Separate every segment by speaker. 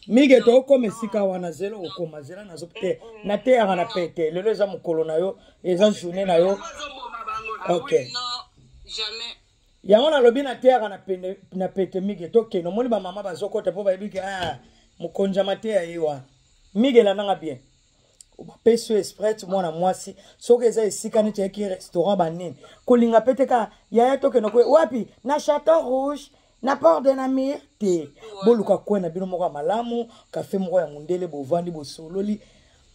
Speaker 1: mige tokoma esika wana zela okoma zela nazo te eh, nateyaka na pete lelo eza mokolo na yo eza journe na yo ok
Speaker 2: yango
Speaker 1: nalobi nateyaka na pete mige tokende omoni bamama bazokota mpo bayebi ke ah, mokonzi ya mateya ye wana mige elandanga bien bapesi yo esprit mwana mwasi soki eza esika neti yaki restaurant banini kolinga mpe te ka yaya tokende wapi na chateau rouge na port de namir te boluka kwe na bino moko ya malamu kafe moko ya mondele bovandi bosololi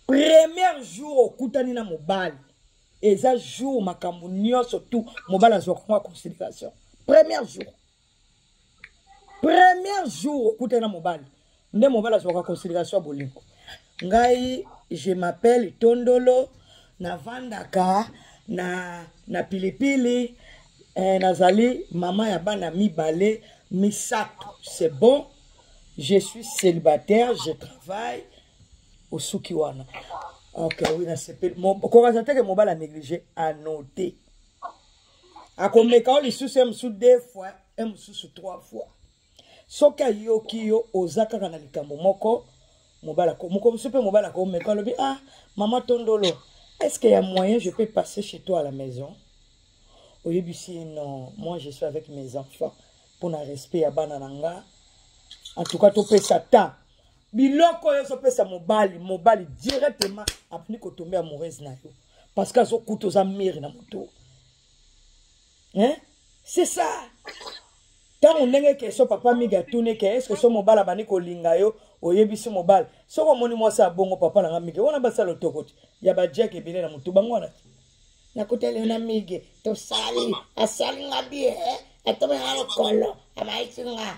Speaker 1: premier jour okutani na mobali eza jour makambo nyonso tu mobali azwaka ngo ya considération premier jour premier jour okutani na mobali nde mobali azwaka consideration ya bolingo ngai je m'appelle tondolo navandaka na, na pilipili eh, nazali mama ya bana mibale misato c'est bon je suis célibataire je travaille osuki wana ok oui nasepeli kokasa teke mobali anéglige anote akomeka o lisusu ye mosusu deux fois ye mosusu trois fois soki ayoki yo oza kaka na likambo moko mobali ako moko mosusu mpe mobali akomeka alobi ah mama tondolo est ce que ya moyen je peux passer chez toi à la maison oyebisi ye non moi je suis avec mes enfants mpo na respect ya bana na nga en tout cas topesa temps biloko oyo ezopesa mobali mobali directement abandi kotombe amoureuse na yo parce que azokuta oza mire na moto hein c'est ça ntango ndenge keso papa migi atuni ke eske so mobala abandi kolinga yo oyebisi mobala soki omoni mwasi abongo papa nanga migi wana basala otoko te ya bajake ebele na motu bango wana te nakuteli na migi tosali asali nga bie eh? atomi nga lokolo abaisi nga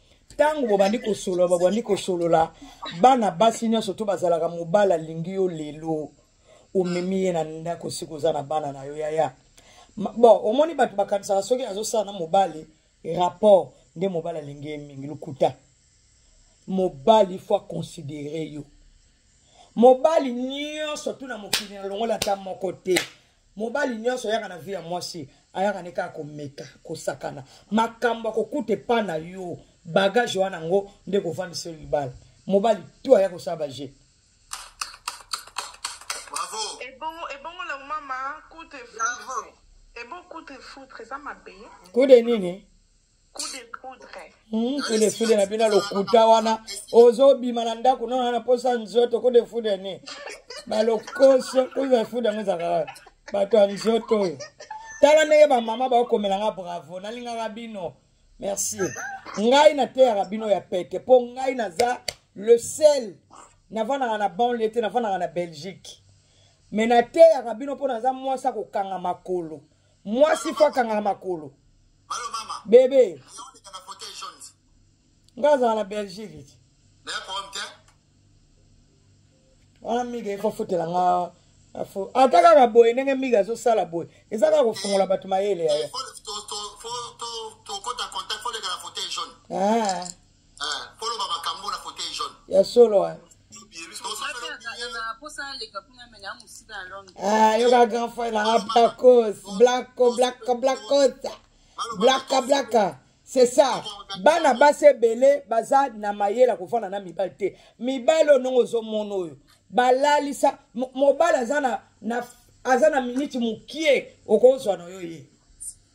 Speaker 1: ntango bobandi kosolola babandi kosolola bana basi nyonso to bazalaka mobali alingi yo lelo omemi ye na ndako sika oza na bana na yo yaya bon omoni bato bakanisaka soki azosala na mobali rapport nde mobali alingi ye mingi lokuta mobali fo aconsidere yo mobali nyonso tuna mokili na longola ata moko te mobali nyonso ayaka na vie ya mwasi ayaka nde kaka komeka kosakana makambo akokuta epa na yo bagage wana yango nde kovandisa libala mobali tu aya kosala baje
Speaker 2: kude nini Hmm, kudefude
Speaker 1: na bino lokuta wana ozobima na ndako nona na mposa nzoto kudefude ni balokoso kudefude yango ezalaka bato ya nzoto oyo tala ndenge bamama baokomela nga bravo nalingaka bino merci ngai nateyaka bino ya pete mpo ngai naza le sel navandaka na banle te navandaka na belgique me nateyaka bino mpo naza mwasi akokanga makolo mwasi fo akangaka makolo
Speaker 3: bebe nga
Speaker 1: azala na belgique ti wana miga efo afutela nga ata kaka boye ndenge miga azosala boye eza kaka kofungola bato mayele yaya
Speaker 3: ya solo
Speaker 1: ah, ah yoka grand frère nanga blacos blacko blacko blacos blaka blaka c'est ça bana basi ebele baza na mayele ya kofanda na mibali te mibali oyo ndenge ozomona oyo balalisa mobali aza na, na aza na miniti mokie okozwa na yo ye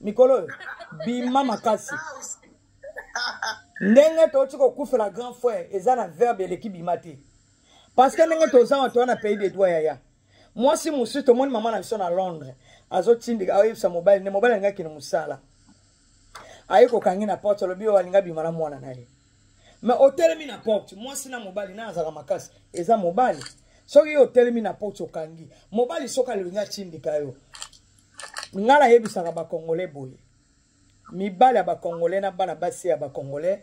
Speaker 1: mikolo oyo bima makasi ndenge touti kokufela grand frère eza na verbe eleki bima te parce que ndenge toza wa toya na pays de droit yaya mwasi mosusu tomoni mama na biso na londres azotindika aoyebisa mobali nde mobali alingaki na mosala aye kokangi na porte alobi oyo alinga bima na mwana na ye me otelemi na porte mwasi na mobali na azalaka makasi eza mobali soki yo otelemi na porte okangi mobali soki alingi atindika yo nga nayebisaka bacongolais boye mibali ya bacongolais na bana basi ya bacongolais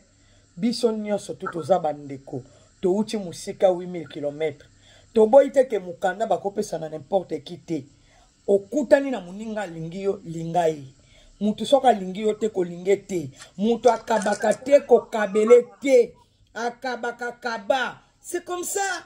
Speaker 1: biso nyonso tu toza bandeko touti mosika 8000 km toboyi te ke mokanda bakopesa na nimporte ki te okutani na moninga alingi yo linga ye moto soki alingi yo te kolinge te moto akabaka te kokabele te akabaka kaba c'est comme ça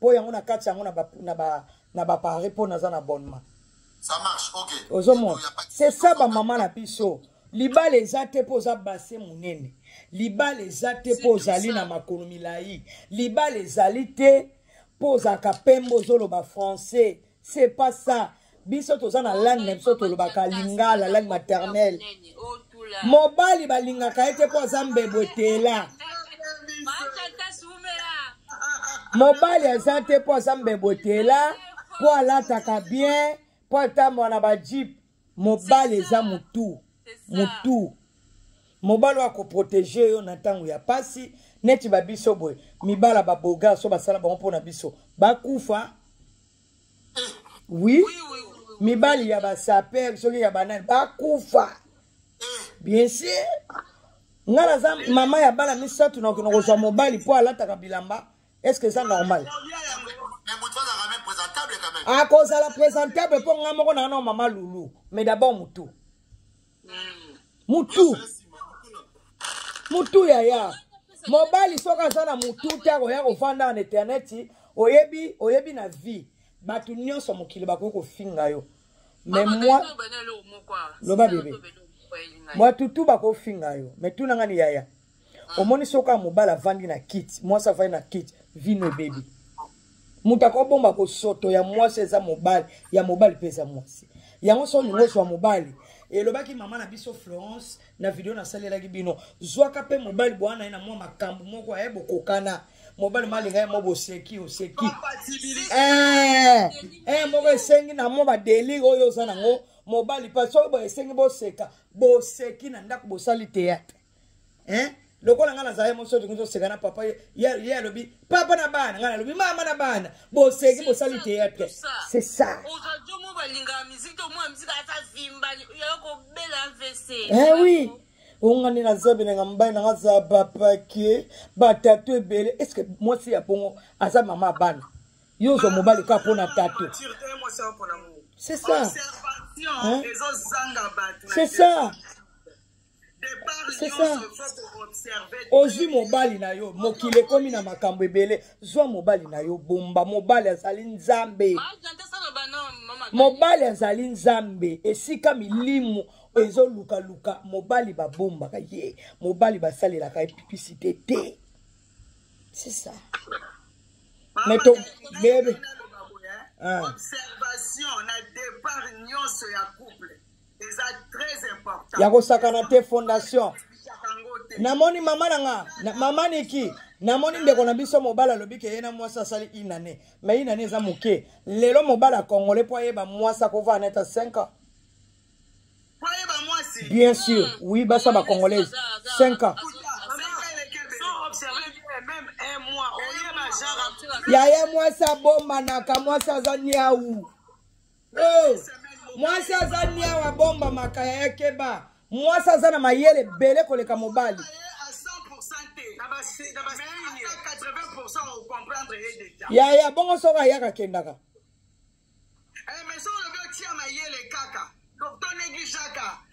Speaker 1: po yango na kati yango na ba na ba na ba pare po naza na abonnement ça marche
Speaker 3: ok ozomona c'est
Speaker 1: ça ba mama na biso libala eza te mpo oza base monene libala eza te mpo ozali na makolo milai libala ezali te mpo ozalaka pembe ozoloba français c'est pas ça biso toza na langue na biso tolobaka lingala langue maternelle mobali balingaka ye te mpo aza mbebo etela mobali aza te mpo aza mbebo etela mpo alataka bien mpo atambola na bajipe mobali eza mutu mutu mobali oyo protege yo na ntango ya pasi neti babiso boye mibala baboga so basala bango mpo na biso bakufa wi mibali ya basaper soki ya banani bakufa bien sûr ngai naza mama ya bana misato nakokende kozwa mobali mpo alataka bilamba est ce que eza normal
Speaker 3: akozala présentable
Speaker 1: mpo nga moko nanga na mama lulu mais d'abord mutu mutu mutu yaya mobali soki aza na mutu te akoya kovanda na eterneti oyebi oyebi na vie bato nyonso mokili bakoki kofinga yo mais moi loba bebe batutu bakofinga yo mais tunanga ni yaya omoni soki kaka mobali avandi na kiti mwasi avandi na kiti vino ebebi moto akobomba kosoto ya mwasi eza mobali ya mobali mpe eza mwasi yango so olingi ozwa mobali elobaki mama na biso florence na video nasalelaki bino zwaka mpe mobali bwana na ye na mwa makambo moko aye bokokana mobali malinga ye mo boseki oseki eh, eh, moko esengi na mwa badelire oyo oza nango mobali mpe soki boesengi boseka boseki na ndako bosali teyatre hein lokola ngai nazalaki mosoto ngai toseka na papa ye alobi papa na bana ngai nalobi mama na bana boseki bosali théâtre c'est ça eh oui ongani na zabe na nga mobali na nga za bapake batato ebele est ce que mwasi ya bongo aza mama ya bana yo ozwa mobali kaka mpo na tato c'est ça hein? c'est ça ozwi mobali na yo mokili ekomi na makambo ebele zwa mobali na yo bomba mobali azali nzambe mobali azali nzambe esika milimu ezolukaluka mobali babombaka ye mobali basalelaka ye pipicite te c'est ça mais to bebe ah. observation
Speaker 2: na départ nyonso ya couple ya kosakana te
Speaker 1: fondation namoni mama na nga na, mama niki namoni ndeko na biso mobali alobi ke ye na mwasi asali inane ma inane eza moke lelo mobali ya congolais mpo ayeba mwasi akovaa na ata 5 ans
Speaker 2: bien sûr hmm. oui
Speaker 1: basa ba congolaise 5
Speaker 2: ans
Speaker 1: yaya mwasi abombanaka mwasi aza niau oh, mwasi aza niawa bomba makaya ya keba mwasi aza na mayele ebele koleka mobali yaya bongo soko ayaka akendaka
Speaker 2: eh,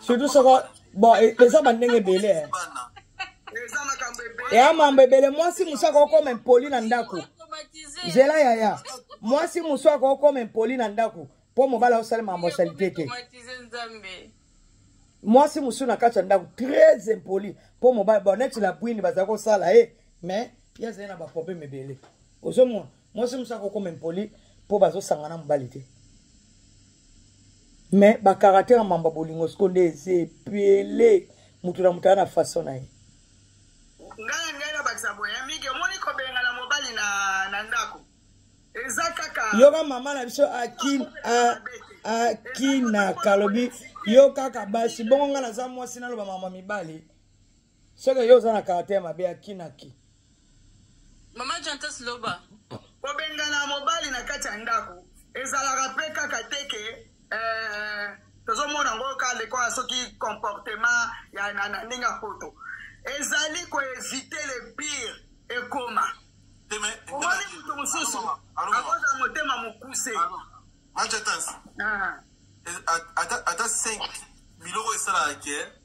Speaker 1: surtout soko bon e, eza bandenge ebele eh. ya mambo ebele mwasi mosu akokoma impoli na ndako zela yaya mwasi mosu akokoma impoli na ndako mpo mobali aosala mambo ya salite te mwasi mosusu na kati ya ndako très impoli mpo mobali bon neti la bwini bazali kosala ye eh, mais ye azali na baproblème ebele ozomona mwasi mosusu akokoma impoli mpo bazosangana mobali te me bakaratere ya mamba bolingo siko nde eza epele moto na moto aya na faso na ye ngai ngai
Speaker 2: nabakisa boye ya miki omoni kobengana mobali na, na ndako eza kaka yoka mama na
Speaker 1: biso akin akinaka alobi yo kaka basi bongo ngai naza mwasi naloba mama mibali soki yo oza na caractère mabe ya kinaki
Speaker 4: mama jantas loba kobengana
Speaker 2: mobali na kati ya ndako ezalaka mpe kaka te ke eh, tozomona yango kaka lekola soki comportement ya na ndenge ya poto ezali koevite le pire ekoma omoni moto mosusu akozala motema mokuse
Speaker 3: ata 5 biloko esalaka ke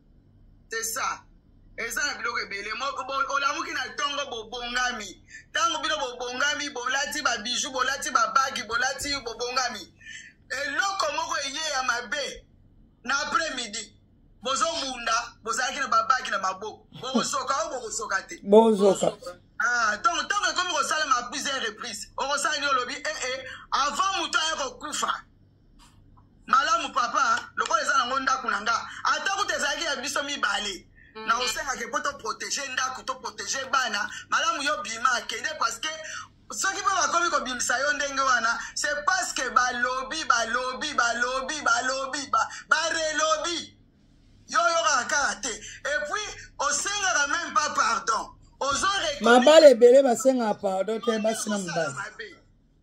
Speaker 2: c'est ça eza na biloko ebele olamuki na ntongo bobongami ntango bino bobongami bolati babiju bolati babagi bolati bobongami eloko moko eye ya mabe na après midi bozobunda bozalaki na babagi na maboko bokosoka o bokosoka te bozoka
Speaker 1: ah, ntongo
Speaker 2: ntango ekomi kosalama plusieurs reprise okosala nini olobi ee eh, eh, avant moto aya kokufa malamu papa lokola eza nango ndako na nga ata kuta ezalaki ya biso mibale mm. na osengaki mpo toprotege ndako toprotege bana malamu yo bima akende parceke soki mpe bakomi kobimisa yo ndenge wana se parceke balobi balobi balobi balobi barelobi yo oyokaka kaka te epuis osengaka meme pas pardon mabala
Speaker 1: ebele basengaka pardon te basi na mobali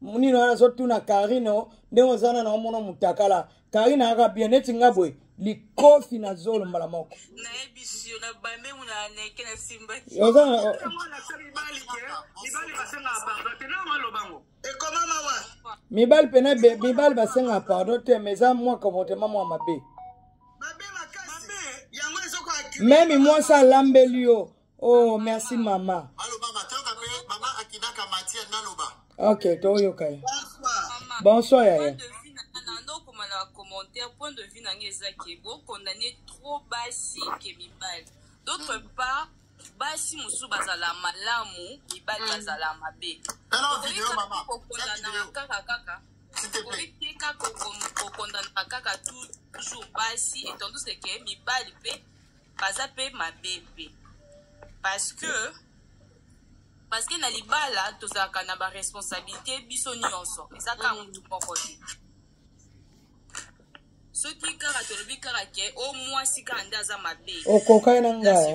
Speaker 1: munino wana azotuna karino ndenge oza na naomona mutakala karina aka bien neti nga boye likofi na zolo mbala moko mibali pena mibali basengaka pardon te ma eza mwa comportement mwa mabe meme mwasi alambeli yo oh merci mama baloba batoyoka mpe mama akidaka matière naloba ok toyoka ye bonsoir yaya okoma na commentaire
Speaker 4: point de vue na ngai eza ke bokondane trop basi ke mibali d'autre mm. part basi mosusu bazala malamu mibali mm. bazala mabe
Speaker 3: kokondanaka kaka
Speaker 4: kaka oyiteka kokondanaka kaka toujours basi etanduse ke mibali mpe baza pe mabe pe parce que parce que na libala tozalaka na baresponsabilité biso nyonso eza kaka mm. motu moko te soki kaka tolobi kaka ke o oh, mwasi kaka nde aza mabe okokani na ngai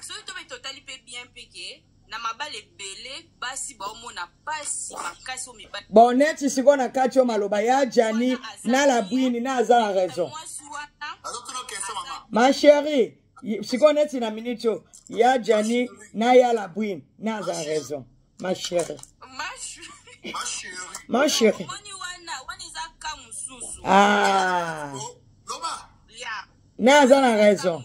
Speaker 4: soki to mpe totali mpe bien mpe ke na mabala ebele basi baomona mpasi makasi oyo mibali bon neti sikoyo na
Speaker 1: kati oyo maloba ya jani na labwini na aza na raison ma chérie sikoyo neti na minute oyo ya jani na ya labwini na aza na raison ma chérie ma chérie ah na aza na raison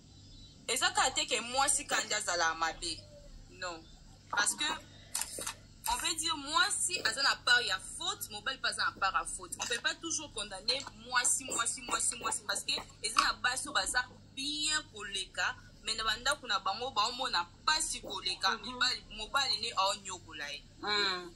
Speaker 4: eza kaka te ke mwasi kandi azala mabe non parce que on peut dire mwasi aza na part ya faute mobali mpe aza na part ya faute on peut pas toujours condamner mwasi mwasi mwasi mwasi parce que eza na basi oyo baza bien koleka me na bandako na bango baomona mpasi koleka mhm. mobali ne aonyokola ye mm.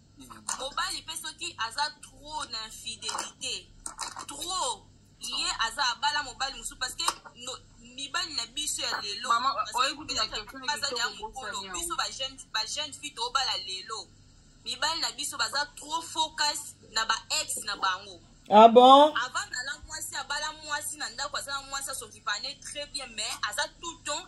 Speaker 4: mobali mpe soki aza trop na infidelité trop ye aza abala mobali mosusu parce que no, mibali na biso ya lelo baza ya mokolo biso bajeune fille tobala lelo mibali na biso baza trop focus na ba ex na bango ah bon
Speaker 1: avant nala mwasi
Speaker 4: abala mwasi na ndako aza na mwasi asokipane très bien mais aza tout temps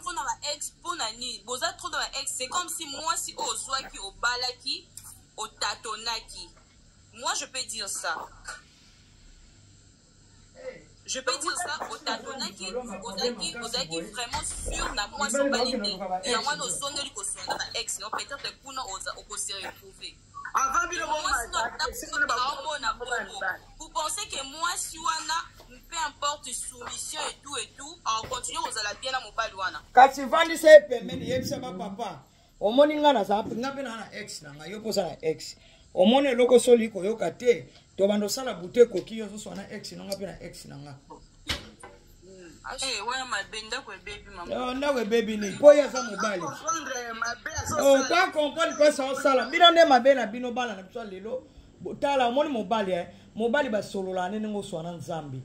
Speaker 4: trop na ba ex mpo na nini boza trop na ba ex c'est comme si mwasi oyo ozwaki obalaki otatonaki moi je peux dire ça je peux dire ça otatonaki ozalaki ozalaki vraiment sur na mwasi obali te yango wana ozongeli kosonga na ba ex no peut-être kuna okoseretrouve Avant bino bo
Speaker 2: mona
Speaker 4: bongo. Vous pensez que moi si wana peu importe soumission et tout et tout, en continuant aux ala bien na mobali wana. Kasi vandi se
Speaker 1: pembeni yebisa ba papa. Omoni nga na sa nga pe na ex na nga yo posa na ex. Omoni eloko soli koyoka te. To bando sala bute koki yo so na ex na nga pe na ex na nga. ndako ebebi nini mpo ye aza mobali oka comprendre mpesa osala bino nde mabe na bino bana na biso lelo tala omoni mobali e mobali basololaka nde ndenge oswana nzambe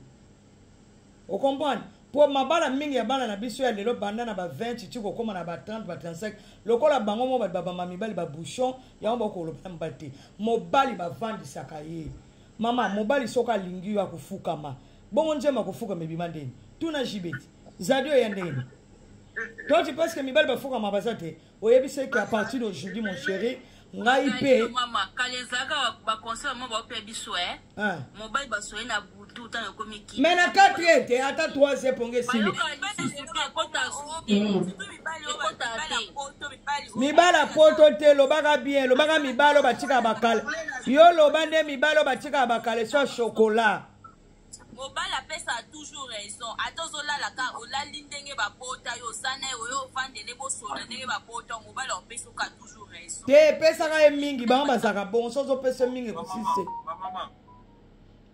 Speaker 1: okomprendre mpo mabala mingi ya bana na biso ya lelo banda na ba 20 ti kokóma na ba 30 ba 35 lokola bango moko bato babamba mibali babouchon yango bakoloba na mobali te mobali bavandisaka ye mama mobali soki alingi yo akofukama bongo nzembo akofukama ebima ndeni tuna jibeti zadi oya ndeni toi tu penses que mibali bafukama baza te oyebisa eke à partir d'aujourd'hui mon chéri ngai mpe mama kala ezalaka
Speaker 4: baconseil mama baopia biso e mobali basoye na butu ntango ekomi ki
Speaker 1: mai na 4 ete ata 3 eponga esili mibala poto te lobaka bien lobaka mibalo batika bakale yo loba nde mibalo batika bakale so chokola mobali
Speaker 4: apesaka toujours raison ata ozolalaka olali ndenge babota yo oza na ye oyo ovandele bosolo ndenge babota mobali aopesaka toujours raison te epesaka ye
Speaker 1: mingi bango bazalaka bongo so ozopesa ye mingi ekosise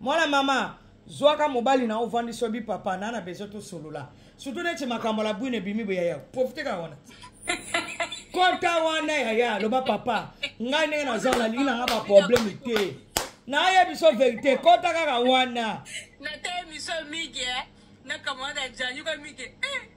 Speaker 1: mwana mama zwaka mobali na ovandisi obi papa na na besoin tosolola surtout neti makambo la bwine ebimi boye yaya profite kaka wana kota wana yaya loba papa ngai ndenge naza nalingi nanga baprobleme te naye biso verité kota kaka wana nataye biso
Speaker 4: migi nakamwana janyuka migi eh.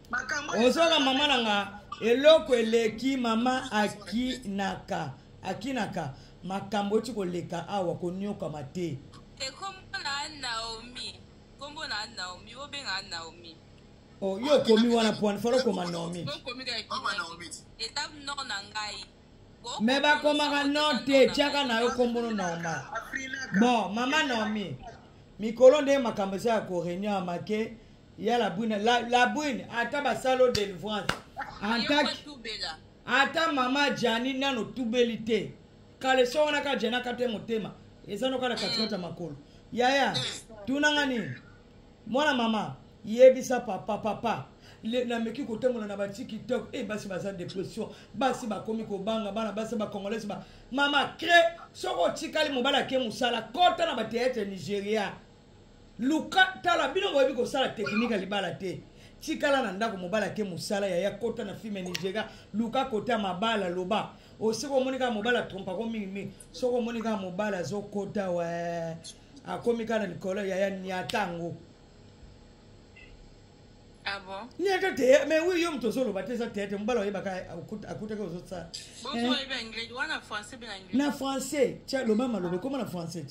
Speaker 1: ozoka mama na nga eloko eleki mama akinaka akinaka makambo oti koleka awa koniokama te ekombo na naomi
Speaker 4: kombo na naomi obenga naomi oh, yo okomi
Speaker 1: wana pwani fala okoma naomi
Speaker 4: etape nord na ngai me
Speaker 1: bakomaka nord te tiaka na yo kombono naoma bon mama naomi mikolo nde makambo eza ya koreunion ya make ya la bwine la, la bwine ata basalo delivrance ata mama jani nano tubeli te kaleso wana ka jani akate motema eza noka na katikati ya mm. makolo yaya mm. tunanga nini mwana mama yebisa papa papa nameki kotambola na batiktok e eh, basi baza depression basi bakomi kobanga bana basi bacongolaise ba mama cre soki otikali mobali ake mosala kota na bateatre nigeria luka tala bino boyebi kosala teknike ya libala te tikala na ndako mobali ake mosala yaya kota na filme nigeria luka kota mabala loba osiko omoni kaka mobali atrompako mingimingi soki omoni kaka mobali azokota we akomi kaka na likolo yaya niata yango Ah
Speaker 4: bon? Niata te, mais oui,
Speaker 1: yo mtozo loba te za te, te mbala oyeba ka akuta ka ozo tsala. Bonjour, oyeba anglais, wana français bien
Speaker 4: anglais. Na français, tia
Speaker 1: loma malobe, comment na français?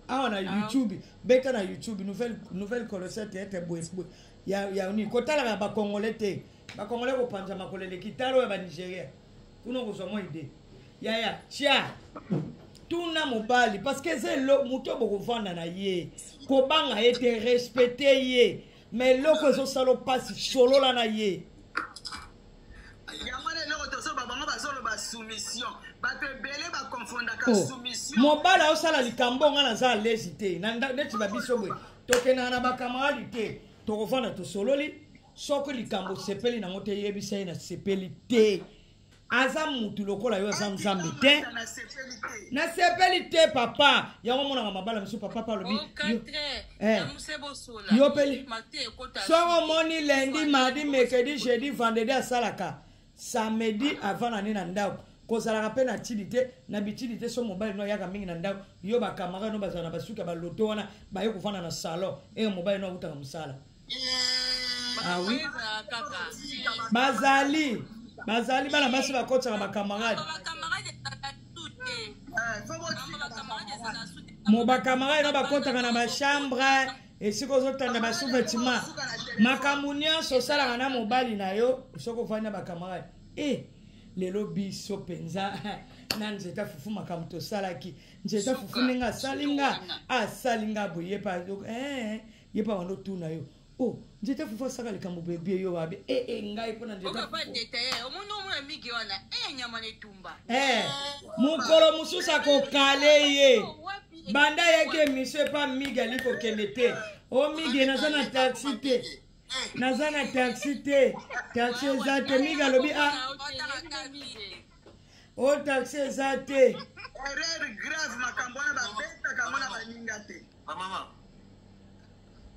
Speaker 1: awa na ah. youtube beta na youtube nouvelle, nouvelle colossal théâtre boesboe ya, ya nini kotalaka bakongole te bakongole kopanza makolo eleki tala oyo ya banigeria kuna okozwa mwa ide yaya tia tuna mobali parce que eza moto bokovanda na ye kobanga ye te respecte ye ma eloko ezosala mpasi solola na ye
Speaker 2: Oh. mobala osala
Speaker 1: likambo ngai naza alezi te neti babiso boye tokendaka na bakamaradi te tokovanda tosololi soki likambo osepeli nango te yebisa ye nasepeli te aza mutu lokola yo aza nzambe te nasepeli te papa yango omonaka mabala mosusu papa palobi Eh. yo mpe soko omoni lendi mardi mercredi jeudi vendredi asalaka samedi avanda nde na ndako kozalaka mpe na tili te na bitili te so mobali no ayaka mingi na ndako yo bakamarade no bazala na basuki ya baloto wana baye kovanda na salon eye mobali no akutaka mosala awi ah bazali bazali bana basi bakotisaka bakamarade mo bakamarade na bakotaka na bachambre esika ozotanda basouvetima makambo nyonso osalaka na mobali na yo soki ofandi na bakamarade e eh, lelo biso mpenza na nzete afufu makambo tosalaki nzete afufu ndenge asali nga asali nga boye ye pa eh, ye pa wanda otuna yo oh njeta fufu asaka likambo boye bie yo wabe e e ngai mpo na njetaomoni omona migi wana e nyama na etumba eh, mokolo mosusu akokale ye banda ayaki emission epa migi ali kokende te o migi naza na taxi te naza na taxi te taxi eza te migi alobi a ah. o oh, taxi eza te erreur
Speaker 2: grave makambo wana babetaka yango na baninga te bamama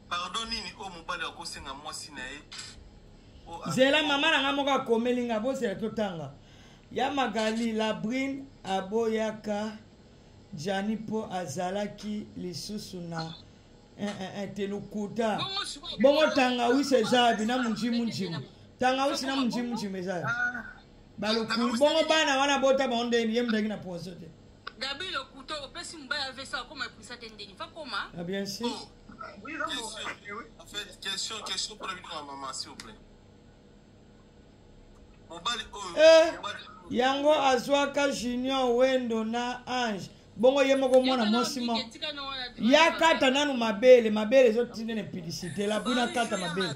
Speaker 3: pardon nini oyo oh, mobali akosenga mwasi na ye oh, ah. zela
Speaker 1: mama na ngai moko akomeli ngai bozela totanga ya magali labrine aboyaka jani mpo azalaki lisusu na eh, eh, eh, te lokuta bongo tangawisi eza abi na munjimunjimu tangawisi na munjimunjimu eza abi ah. balokulu bongo bana wana bota bango ndeni ye mutaki na poison te gabriel okuto
Speaker 4: opesi mobali avesa akoma epulisa te ndeni
Speaker 1: fa koma ah,
Speaker 2: bien sûr oh. en fait
Speaker 3: question question mpona bino ya mama s'il vous plaît mobali oyo
Speaker 1: eh, yango azwaka junior wendo na ange bongo ye moko mwana mwasi moko ya kata nanu mabele mabele ezotinda na publicité lapui na kata mabele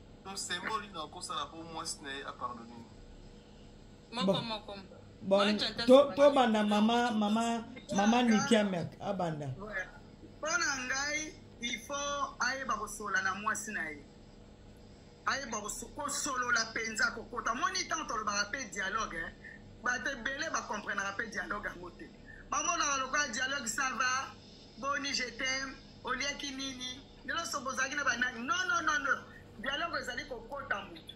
Speaker 3: Msembo lino akosala po mwasi na ye apardone ye.
Speaker 4: Moko moko. Bon,
Speaker 1: to, to banda mama mama mama Niki Amerk abanda. Mpo na
Speaker 2: ngai il faut ayeba kosolola na mwasi na ye ayeba kosolola mpenza kokota moni ntango tolobaka mpe dialogue eh. bato ebele bakomprenaka mpe dialogue yango te bamonaka lokola dialogue sava boni je teme oliaki nini Bino so bozalaki na banani? Non, non, non, non. Dialogue ezali kokota moto.